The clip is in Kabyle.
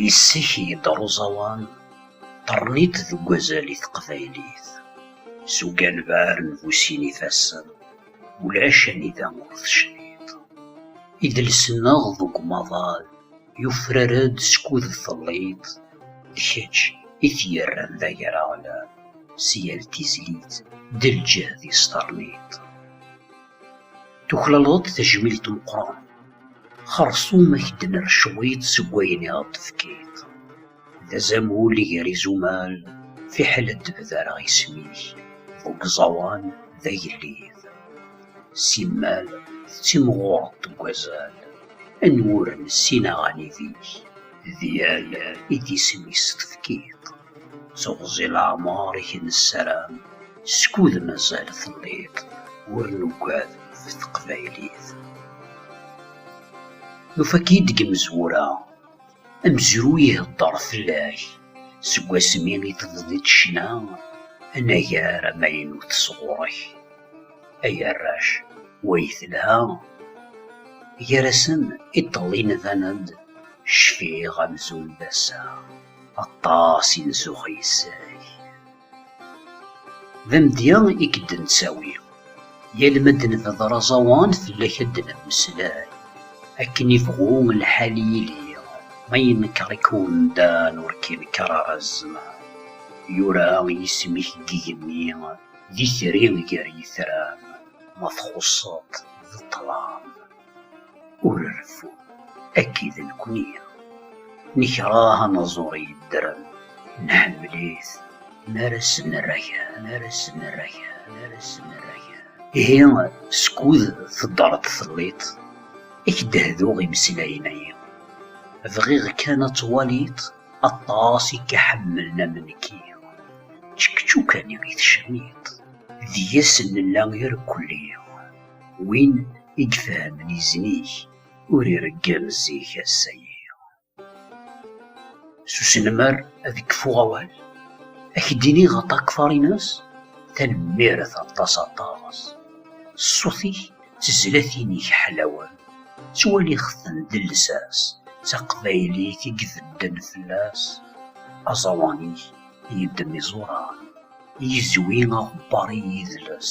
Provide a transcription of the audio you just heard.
Yis-k yedder uẓawan, ṭerniṭ deg wazal i teqbaylit. S uganbar n bu sin ifassen, ulac anida ur tecniḍ. Idles-nneɣ deg umaḍal yufrar-d skud telliḍ, d kečč i t-yerran d agaraɣlan, s yal tizlit d lǧehd-is terniḍ. Tuklaleḍ-d tajmilt meqqren. Xersum ad k-d-nerr cwiṭ seg wayen i aɣ-d-tefkiḍ. D azamul gar izumal, fiḥel ad d-bdareɣ isem-ik deg uẓawan d agellid. Simmal tettimɣureḍ deg wazal, anwuren s inaɣan ideg. D yal i d isem-is tefkiḍ. Teɣzi leɛmeṛ i k-nessaram, skud mazal telliḍ ur nugad ɣef teqbaylit. Nufa-k-id deg imezwura, amezruy iheddeṛ fell-ak seg wasmi i tebdiḍ ccna, anagar amaynut sɣur-k. Ay arrac, way telha! Gar-asen iṭṭelli nban-d, cfiɣ amzun d ass-a. Aṭas i nzuxx yes-k. D amedya i k-d-nettawi. Yal ma d-nebder aẓawan fell-ak ad d-nemmeslay. Akken ibɣu lḥal yili, ma yenker-ik umdan ur k-inker ara zzman. Yura yisem-ik deg yigenni, d itri gar yitran, ma txuṣṣeḍ d ṭṭlam. Ur reffu, akki d nekni. Nekreh anaẓur yeddren, nḥemmel-it mi ara s-nerra kra, mi ara s-nerra kra, mi ara s-nerra kra. Ihi, skud teddreḍ telliḍ, ad k-d-hduɣ imeslayen-agi. Bɣiɣ kan ad twaliḍ aṭas i k-iḥemmlen am nekki. Čekčukan-iw i tecniḍ, deg-s nella irkelli. Win i ifehmen izen-ik, ur ireggel zik ass-agi. S uselmer ad kfuɣ awal, a k-d-iniɣ a Takfarinas, tanemmirt aṭas aṭas. Ṣṣut-ik d tezlatin-ik ḥlawen, ttwaliɣ-ten d llsas, d taqbaylit i ibedden fell-as. Aẓawan-ik yeddem iẓuran, yezwi aɣebbar i yidles.